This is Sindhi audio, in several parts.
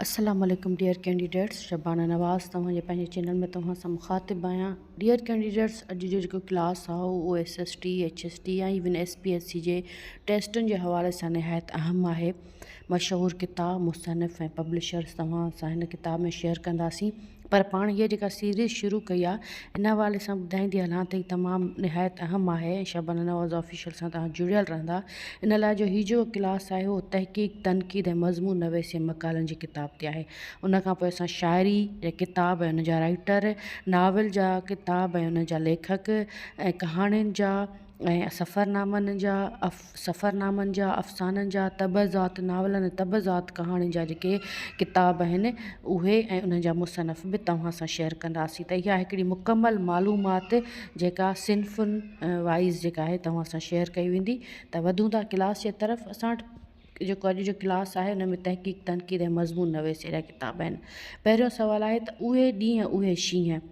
السلام عليڪم ڊيئر ڪينڊيڊيٽس شبانه نواز توهان جي پنهنجي چينل ۾ توهان سان مخاطب آهيان ڊيئر ڪينڊيڊيٽس اڄ جو جيڪو ڪلاس آهي اهو S S T H S T ۽ even S P S C جي ٽيسٽن جي حوالي سان نهايت اهم آهي مشهور ڪتاب مصنف ۽ پبلشرس توهان سان هن ڪتاب ۾ شيئر ڪنداسين پر پاڻ هيء جيڪا سيريز شروع ڪئي آهي ان حوالي سان ٻڌائيندي هلان ته هي تمام نهايت اهم آهي ۽ شبانه نواز آفيشل سان توهان جڙيل رهندا ان لاء جو هي جيڪو ڪلاس آهي اهو تحقيق تنقيد ۽ مضمون نويسي ۽ مقالن جي ڪتاب تي آهي ان کان پوء اسان شاعري جا ڪتاب ۽ ان جا رائيٽر ناول جا ڪتاب ۽ ان جا ليکڪ ۽ ڪهاڻين جا ۽ سفرنامن جا سفرنامن جا افسانن جا طبع ذات ناولن ۽ طبع ذات ڪهاڻين جا جيڪي ڪتاب آهن اهي ۽ انهن جا مصنف به توهان سان شيئر ڪنداسين ته اها هڪڙي مڪمل معلومات جيڪا صنفن وائيز جيڪا آهي توهان سان شيئر ڪئي ويندي ته وڌون ٿا ڪلاس جي طرف اسان وٽ جيڪو اڄ جو ڪلاس آهي ان ۾ تحقيق تنقيد ۽ مضمون نويسي جا ڪتاب آهن پهريون سوال آهي ته اهي ڏينهن اهي شينهن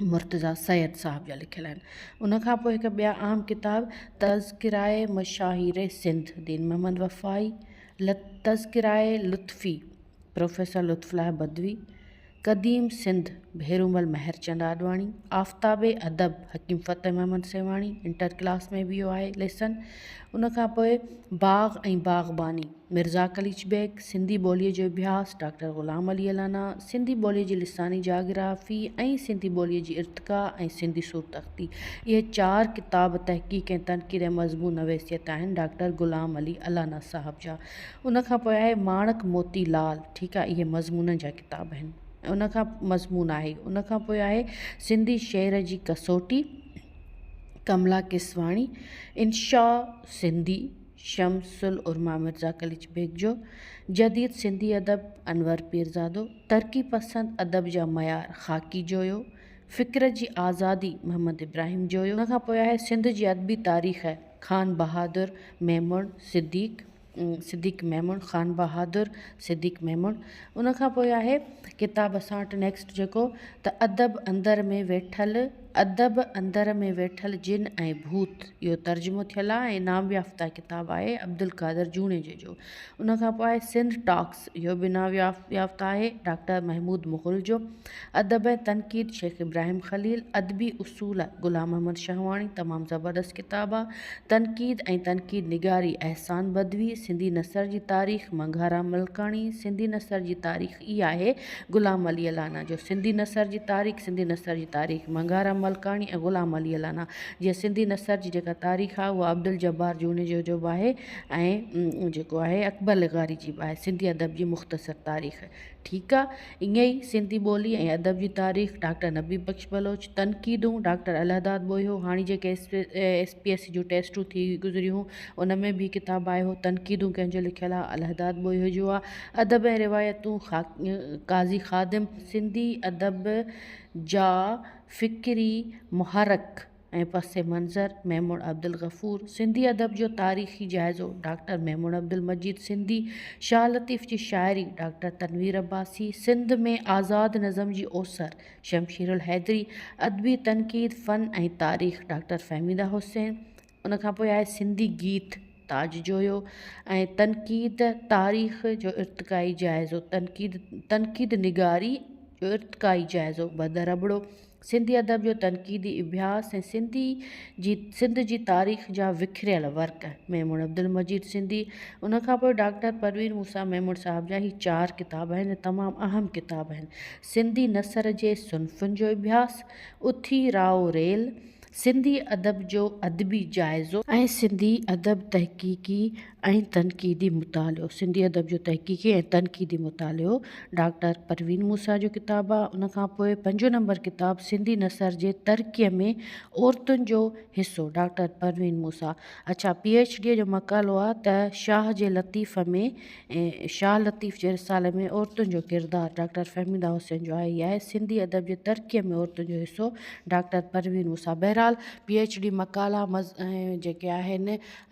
مرتضيٰ سيد صاحب جا لکيل آهن. ان کان پوء هڪ ٻيا اهم ڪتاب تذڪرائي مشاهير سنڌ دين محمد وفائي، تذڪرائي لطفي پروفيسر لطف الله بدوي، قديم سنڌ ڀيرومل مهرچند آڏواڻي، آفتاب ادب حڪيم فتح محمد سيوهاڻي، انٽر ڪلاس ۾ به اهو آهي ليسن. ان کان پوء باغ ۽ باغباني. مرزا قليچ بيگ، سنڌي ٻوليء جو اڀياس، ڊاڪٽر غلام علي الانا، سنڌي ٻوليء جي لساني جاگرافي ۽ سنڌي ٻوليء جي ارتقا ۽ سنڌي صورت اختي. اهي چار ڪتاب تحقيق ۽ تنقيد ۽ مضمون نويسيت آهن ڊاڪٽر غلام علي الانا صاحب جا. ان کان پوء آهي ماڻڪ موتي لال، ٺيڪ آهي، اهي مضمونن جا ڪتاب آهن ۽ ان کان مضمون آهي. ان کان پوء آهي سنڌي شعر جي ڪسوٽي، ڪملا ڪيسواڻي، انشاء سنڌي. شمس العرما مرزا قليچ بيگ جو جديد سنڌي ادب انور پيرزادو ترقي پسند ادب جا معيار خاڪي جويو فڪر جي آزادي محمد ابراهيم جويو ان کان پوء آهي سنڌ جي ادبي تاريخ خان بهادر ميمڻ صديق صديق ميمڻ خان بهادر صديق ميمڻ ان کان پوء آهي ڪتاب اسان وٽ نيڪسٽ جيڪو ته ادب اندر ۾ ويٺل ادب اندر ۾ ويٺل جن ۽ ڀوت اهو ترجمو ٿيل آهي ۽ انعام يافته ڪتاب آهي عبدالقادر جوڻيجي جو ان کان پوء آهي سنڌ ٽاڪس اهو به انعام يافته آهي ڊاڪٽر محمود مغل جو ادب ۽ تنقيد شيخ ابراهيم خليل ادبي اصول غلام محمد شهواڻي تمام زبردست ڪتاب آهي تنقيد ۽ تنقيد نگاري احسان بدوي سنڌي نثر جي تاريخ منگهارام ملڪاڻي سنڌي نثر جي تاريخ هي آهي غلام علي الانا جو سنڌي نثر جي تاريخ سنڌي نثر جي تاريخ منگهارام ملڪاڻي ۽ غلام علي الانا جي سنڌي نثر جي جيڪا تاريخ آهي اها عبدالجبار جوڻيجو جو به آهي ۽ جيڪو آهي اڪبر لغاري جي به آهي سنڌي ادب جي مختصر تاريخ ٺيڪ آ ائين ئي سنڌي ٻولي ۽ ادب جي تاريخ ڊاڪٽر نبي بخش بلوچ تنقيدون ڊاڪٽر الهداد ٻوهيو هاڻي جيڪي ايس پي ايس سی جون ٽيسٽون ٿي گذريون ان ۾ به ڪتاب آهي اهو تنقيدون ڪنهن جو لکيل آهي الهداد ٻوهيو جو آهي ادب ۽ روايتون قاضي خادم سنڌي ادب جا فڪري محرڪ ۽ پس منظر ميمڻ عبدالغفور سنڌي ادب جو تاريخي جائزو ڊاڪٽر ميمڻ عبدالمجيد سنڌي شاهه لطيف جي شاعري ڊاڪٽر تنوير عباسي سنڌ ۾ آزاد نظم جي اوسر شمشيرالحيدري ادبي تنقيد فن ۽ تاريخ ڊاڪٽر فهميده حسين ان کان پوء آهي سنڌي گيت تاج جويو ۽ تنقيد تاريخ جو ارتقائي جائزو تنقيد تنقيد نگاري جو ارتقائي جائزو ٻه درٻڙو سنڌي ادب جو تنقيدي اڀياس ۽ سنڌي جي سنڌ جي تاريخ جا وکريل ورق ميمڻ عبدالمجيد سنڌي ان کان پوء ڊاڪٽر پروين موسيٰ ميمڻ صاحب جا هي چار ڪتاب آهن تمام اهم ڪتاب آهن سنڌي نثر جي صنفن جو اڀياس اٿي راء ريل سنڌي ادب جو ادبي جائزو. ۽ سنڌي ادب تحقيقي ۽ تنقيدي مطالعو. سنڌي ادب جو تحقيقي ۽ تنقيدي مطالعو ڊاڪٽر پروين موسيٰ جو ڪتاب آهي. ان کان پوء پنجون نمبر ڪتاب سنڌي نثر جي ترقيء ۾ عورتن جو حصو ڊاڪٽر پروين موسيٰ اڇا پي ايڇ ڊيء جو مقالو آهي ته شاهه جي لطيف ۾ ۽ شاهه لطيف جي رسالي ۾ عورتن جو ڪردار ڊاڪٽر فهميده حسين جو آهي ئي آهي. سنڌي ادب جي ترقيء ۾ عورتن جو حصو ڊاڪٽر پروين موسيٰ بهرحال پي ايڇ ڊي مقالا ۽ جيڪي آهن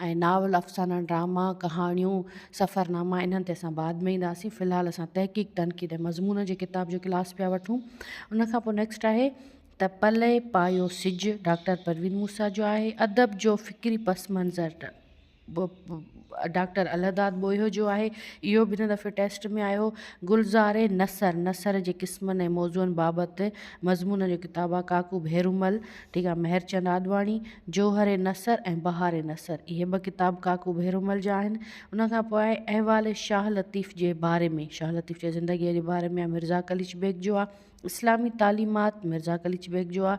۽ ناول افسانا ڊراما ڪهاڻيون سفرناما انهن تي اسان بعد ۾ اينداسين في الحال اسان تحقيق تنقيد ۽ مضمون جي ڪتاب جو ڪلاس پيا وٺون ان کان پوء نيڪسٽ آهي ته پلئه پايو سج ڊاڪٽر پروين موسيٰ جو آهي ادب جو فڪري پس منظر ڊا. ڊاڪٽر الهداد ٻوهيو جو آهي اهو به هن دفعي ٽيسٽ ۾ آيو گلزار نثر نثر جي قسمن ۽ موضوعن بابت مضمونن جو ڪتاب آهي ڪاڪو ڀيرومل ٺيڪ آهي مهرچند آڏواڻي جوهر نثر ۽ بهار نثر اهي ٻه ڪتاب ڪاڪو ڀيرومل جا آهن ان کان پوء احوال شاهه لطيف جي باري ۾ شاهه لطيف جي زندگيء جي باري ۾ مرزا قليچ بيگ جو آهي اسلامي تعليمات مرزا قليچ بيگ جو آ،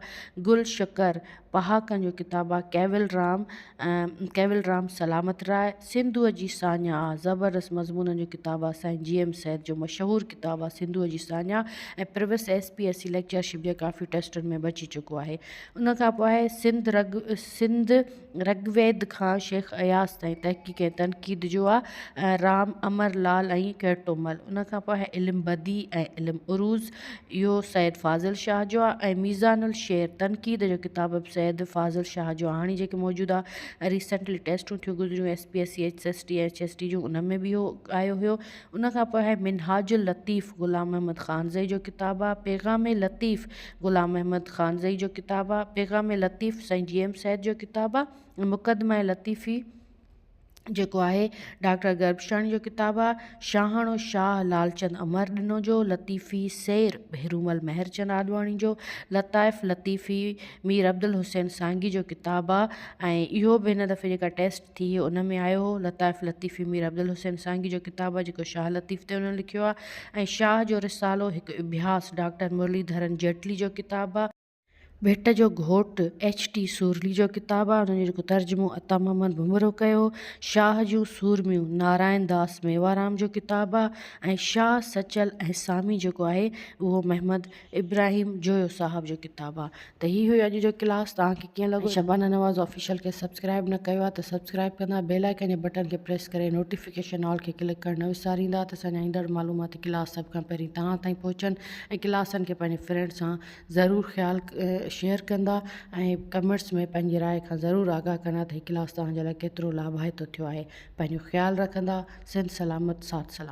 گل شڪر پهاڪن جو ڪتاب آ، ڪيول رام ڪيول رام سلامت راء سنڌوء جي ساڃاهه آ، زبردست مضمونن جو ڪتاب آ، سائين جي ايم سيد جو مشهور ڪتاب آ سنڌوء جي ساڃاهه ۽ پرويس S P S C lectureship جي ڪافي ٽيسٽن ۾ به اچي چڪو آهي. ان کان پوء آهي سنڌ رڳ سنڌ. رگ ويد کان شيخ اياز تائين تحقيق ۽ تنقيد جو آ ۽ رام امر لعل ۽ ڪيرٽومل ان کان پوء علم بديع ۽ علم عروض اهو سيد فاضل شاهه جو آ ۽ ميزان الشعر تنقيد جو ڪتاب به سيد فاضل شاهه جو آ هاڻي جيڪي موجود آ ريسينٽلي ٽيسٽون ٿيون گذريون S P S C H S T H S T جون ان ۾ به اهو آيو هيو ان کان پوء آهي منهاج اللطيف غلام محمد خانزئي جو ڪتاب آهي پيغام لطيف غلام محمد خانزئي جو ڪتاب آهي پيغام لطيف سائين جي ايم سيد جو ڪتاب آهي مقدمه لطيفي جيڪو آهي ڊاڪٽر گربشاڻي جو ڪتاب آهي شاهاڻو شاهه لالچند امر ڏنو جو لطيفي سير ڀيرومل مهرچند آڏواڻي جو لطائف لطيفي مير عبدالحسين سانگي جو ڪتاب آهي ۽ اهو به هن دفعي جيڪا ٽيسٽ ٿي هي ان ۾ آيو هو. لطائف لطيفي مير عبدالحسين سانگي جو ڪتاب آهي جيڪو شاهه لطيف تي هن لکيو آهي ۽ شاهه جو رسالو هڪ اڀياس ڊاڪٽر مرلي ڌرن جيٽلي جو ڪتاب آهي. ڀٽ جو گهوٽ ايڇ ٽي سورلي جو ڪتاب آهي ان جو جيڪو ترجمو عطا محمد ڀونرو ڪيو هو. شاهه جون سورميون نارائن داس ميوارام جو ڪتاب آهي ۽ شاهه سچل ۽ سامي جيڪو آهي اهو محمد ابراهيم جويو صاحب جو ڪتاب آ ته هي هيو اڄ جو ڪلاس توهان کي ڪيئن لڳو شبانه نواز آفيشل کي سبسڪرائب نه ڪيو آ ته سبسڪرائب ڪندا بيل آئيڪن جي بٽن کي پريس ڪري نوٽيفڪيشن آل کي ڪلڪ ڪرڻ نه وساريندا ته اسان جا ايندڙ معلوماتي ڪلاس سڀ کان پهرين توهان تائين پهچن ۽ ڪلاسن کي پنهنجي فرينڊ سان ضرور خيال شيئر ڪندا ۽ ڪمينٽس ۾ پنهنجي راء کان ضرور آگاهه ڪندا ته هي ڪلاس توهان جي لاء ڪيترو لاڀائتو ٿيو آهي پنهنجو خيال رکندا سنڌ سلامت ساٿ سلامت.